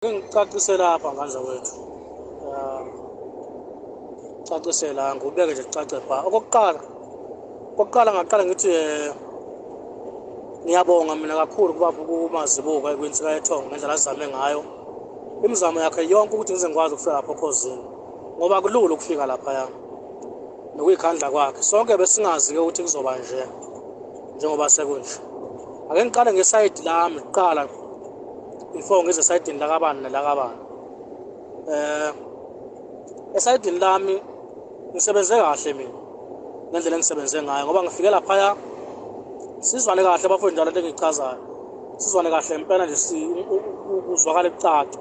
Ngicacise lapha ngandla wethu. Um, cacise la ngubeke nje kucace bha. Okokuqala okokuqala ngaqala ngithi eh, ngiyabonga mina kakhulu kuba kumazibuko ekwintsika yethongo ngendlela azame ngayo. Imizamo yakhe yonke ukuthi ngize ngikwazi ukufika lapho okhozini ngoba kulula ukufika lapha yami. Nokuyikhandla kwakhe. Sonke besingazi ke ukuthi kuzoba nje njengoba sekunje. Ake ngiqale ngesayidi lami kuqala before ngize esayidini lakabani nelakabani eh esayidini lami ngisebenze kahle mina ngendlela engisebenze ngayo ngoba ngifike laphaya sizwane kahle bafowethu njalo into engiyichazayo sizwane kahle impela nje kuzwakala kucaca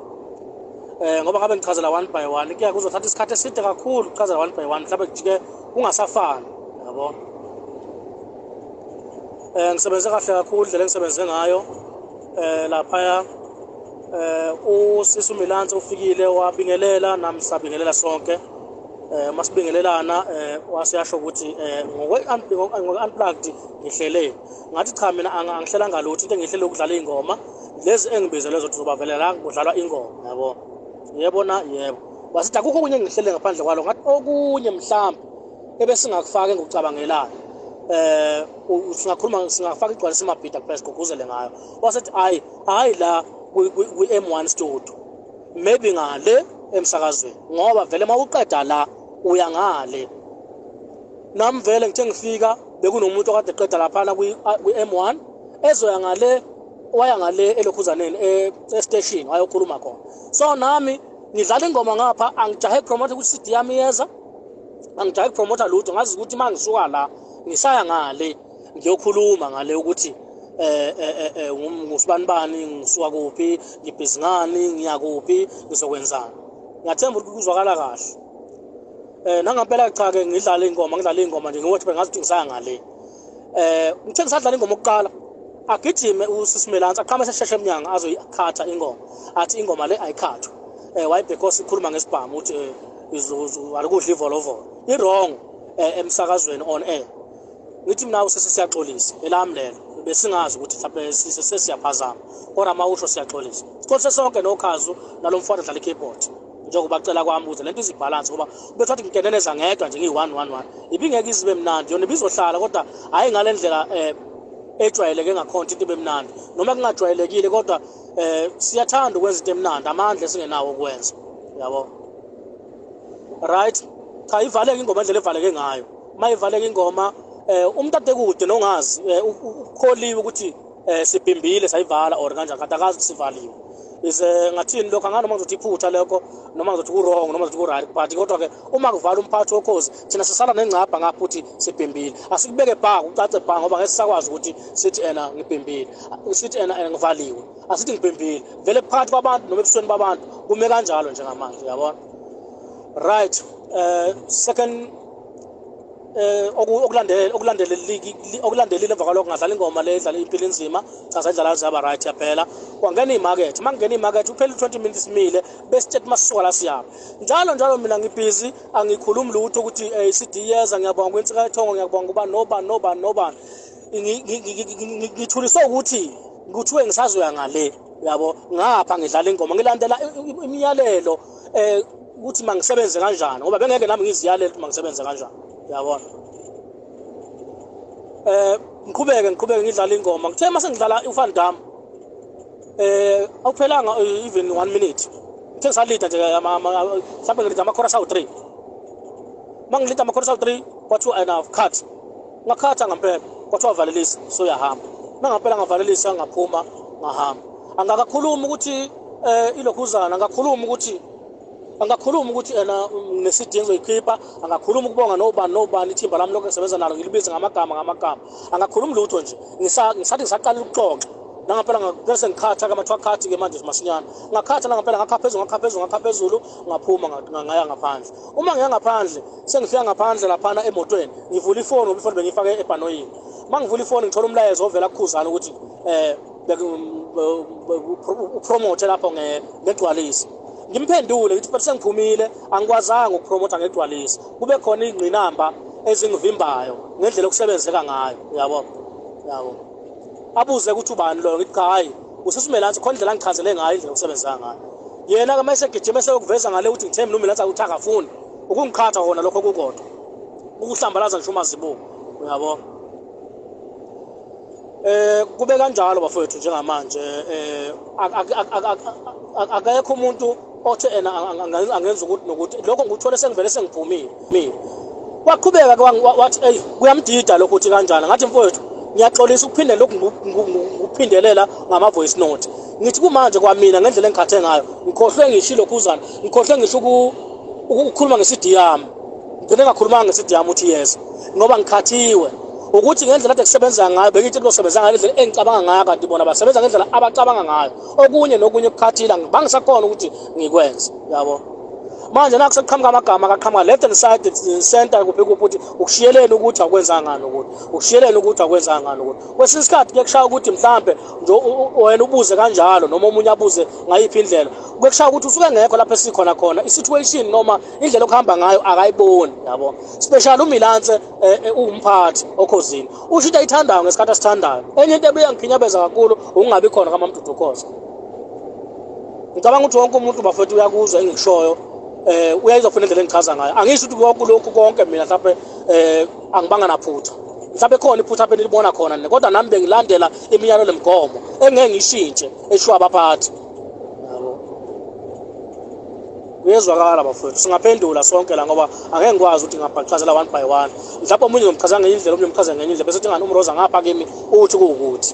eh ngoba ngabe ngichazela one by one kuya kuzothatha isikhathi eside kakhulu ukuchazela one by one mhlawumbe kujike kungasafani yabo eh ngisebenze kahle kakhulu indlela engisebenze ngayo eh laphaya eh usisi uMilansi ufikile wabingelela nami sabingelela sonke eh masibingelelana eh wasiyasho ukuthi eh ngokwe unplugged ngihlele ngathi cha mina angihlela ngalutho into engihlele ukudlala ingoma lezi engibizelwe zothi uzobavelela kudlalwa ingoma yabo yebo na yebo wasithi akukho okunye engihlele ngaphandle kwalo ngathi okunye mhlawumbe ebesingakufaka engucabangelayo eh singakhuluma singafaka igcwalisa imabhida kuphela sigqugquzele ngayo wasethi hayi hayi la kwi-M1 studio maybe ngale emsakazweni ngoba vele uma uqeda la uya ngale nami vele ngithe ngifika bekunomuntu okade eqeda laphana kwi-M1 ezoya ngale waya ngale elokhuzaneni e, e-station wayokhuluma khona so nami ngidlala ingoma ngapha angijahe promote ukuthi i-cd yami yeza angijayi kupromotha lutho ngazi ukuthi uma ngisuka la ngisaya ngale ngiyokhuluma ngale ukuthi eh, eh, eh, eh ngusibani bani ngisuka kuphi ngibhizi ngani ngiya kuphi ngizokwenzani ngiyathemba ukuthi kuzwakala kahle um nangampela cha-ke ngidlale iy'ngoma ngidlale iy'ngoma nje ngiwothi bengazi ukuthi ngisaya ngale eh ngithe ngisadlala ingoma okuqala agijime usisimelansi aqhame sesheshe emnyango azoyikhatha ingoma athi ingoma le ayikhathwe eh wayibhekos ikhuluma ngesibhamu ukuthi eh, izuzu alikudla ivolovolo i-wrong eh, emsakazweni on air ngithi mina usisi siyaxolisa elami lelo besingazi ukuthi mhlawumbe sesiyaphazama kodwa uma usho siyaxolisa siqolise sonke nokhazu nalo mfana odlala i-keyboard njengoba cela kwami ukuthi lento izibhalansi ngoba ubethi wathi ngiteneneza ngedwa nje ngiyi-one one one ibingeke izibe mnandi yona ibizohlala kodwa hhayi ngale ndlela um ejwayeleke ngakhonto into ibe mnandi noma kungajwayelekile kodwa um siyathanda ukwenza into emnandi amandla esingenawo okwenza yabo right cha ivaleke ingoma indlela evaleke ngayo uma ivaleke ingoma um umntu atekude nongazi um ukholiwe ukuthi eh sibhimbile sayivala or kanjani kanti akazi sivaliwe is eh, ngathini lokho anganoma ngizothi iphutha lokho noma ngizothi ku-wrong noma ngizothi ku-right but kodwa-ke uma kuvala umphathi wokhozi thina sisala nengcabha ngapho ukuthi sibhimbile asikubeke bha kucace bha ngoba ngeke sisakwazi ukuthi sithi ena ngibhimbile sithi ena ena ngivaliwe asithi ngibhimbile vele phakathi kwabantu noma ebusweni babantu kume kanjalo njengamanje uyabona right uh, second eh okulandele okulandele okulandelile emva kwalokho ngadlala ingoma le edlala impilo inzima cha sadlala zaba right yaphela kwangena imarket mangena imarket uphela 20 minutes mile besithethe masuka la siyapha njalo njalo mina ngibhizi angikhulumi lutho ukuthi eh CD yeza ngiyabonga kwensika ethongo ngiyabonga kuba noba noba noba ngithuliswe ukuthi kuthiwe ngisazoya ngale yabo ngapha ngidlala ingoma ngilandela imiyalelo eh ukuthi mangisebenze kanjani ngoba bengeke nami ngiziyalele ukuthi mangisebenze kanjani uyabona eh ngiqhubeke ngiqhubeke ngidlala ingoma ngithe mase ngidlala uFan Dam eh awuphelanga eh, even 1 minute ngithe ngisalida nje mhlawumbe ngilida ama chorus awu 3 mangilida ama chorus awu 3 kwathiwa enough cut ngakhatha ngampela kwathiwa valelisa soyahamba nangampela ngavalelisa ngaphuma ngahamba angakakhulumi ukuthi eh ilokhuzana angakhulumi ukuthi angakhuluma ukuthi ena ngesidi engizoyikhipha angakhuluma ukubonga nobani nobani ithimba lami lokho ngisebenza nalo ngilibize ngamagama ngamagama angakhulumi lutho nje ngisathi ngisaqala ukuxoxa nangampela ngase ngikhatha kamathiwa khathi-ke manje masinyana ngakhatha nangampela ngakha phezulu ngakha phezulu ngakha phezulu ngaphuma ngaya ngaphandle uma ngiya ngaphandle sengifika ngaphandle laphana emotweni ngivula ifoni ngoba ifoni bengiyifake ebhanoyini uma ngivula ifoni ngithola umlayezo ovela kukhuzana ukuthi um upromothe lapho ngegcwalisi ngimphendule ngithi but sengiphumile angikwazanga ukupromotha ngegcwalisi kube khona iy'ngqinamba ezingivimbayo ngendlela okusebenzeka ngayo uyabo yabo abuze ukuthi ubani loyo ngithi cha hhayi usesumelansi khona indlela angichazele ngayo indlela okusebenzeka ngayo yena-ke uma esegijima eseyokuveza ngale ukuthi ngithe mina umelansi akuthi akafuni ukungiqhatha khona lokho kukodwa ukuhlambalaza ngisho uma zibuka uyabo eh kube kanjalo bafowethu njengamanje eh akekho umuntu othe ena angenza ukuthi nokuthi lokho ngikuthole sengivele sengiphumile mina waqhubeka wathi eyi kuyamdida lokho uthi kanjani ngathi mfowethu ngiyaxolisa ukuphinde lokhu ngikuphindelela ngama-voice note ngithi kumanje kwamina ngendlela engikhathe ngayo ngikhohlwe ngishilo khuzana ngikhohlwe ngisho ukukhuluma ngesidi yami ngigcine ngakhulumanga ngesidi yami uthi yes ngoba ngikhathiwe ukuthi ngendlela ade kusebenza ngayo bengithi kuzosebenza ngayo indlela engicabanga ngayo kanti bona basebenza ngendlela abacabanga ngayo okunye nokunye ukukhathila bangisakhona ukuthi ngikwenze yabo manje naku sekuqhamuka amagama akaqhamuka left and side center kuphi kuphi ukuthi ukushiyeleni ukuthi akwenzanga ngani ukuthi ukushiyeleni ukuthi akwenzanga ngani ukuthi kwesinye isikhathi kuye kushaya ukuthi mhlambe wena ubuze kanjalo noma omunye abuze ngayiphi indlela kwekushaya ukuthi usuke ngekho lapho esikhona khona i-situation noma indlela okuhamba ngayo akayiboni yabo special umilanse eh, eh, uwumphathi okhozini usho into ayithandayo ngesikhathi asithandayo enye into ebeyangikhinyabeza kakhulu ukungabi khona kamamdudu khoza ngicabanga ukuthi wonke umuntu bafethu uyakuzwa engikushoyo um uyayizwa funa indlela engichaza ngayo angisho ukuthi konke lokhu konke mina mhlawumbe um angibanga naphutha mhlawumbe khona iphutha benilibona khona nina kodwa nami bengilandela imiyalo nemgomo engeke ngishintshe eshiwo abaphathi kuyezwakala bafowethu singaphendula sonke la ngoba angeke ngikwazi ukuthi ngabhachazela one by one mhlawumbe omunye ngimchaza ngenye indlela omunye ngimchaza ngenye indlela bese uthi ngani umroza ngapha kimi uthi kuwukuthi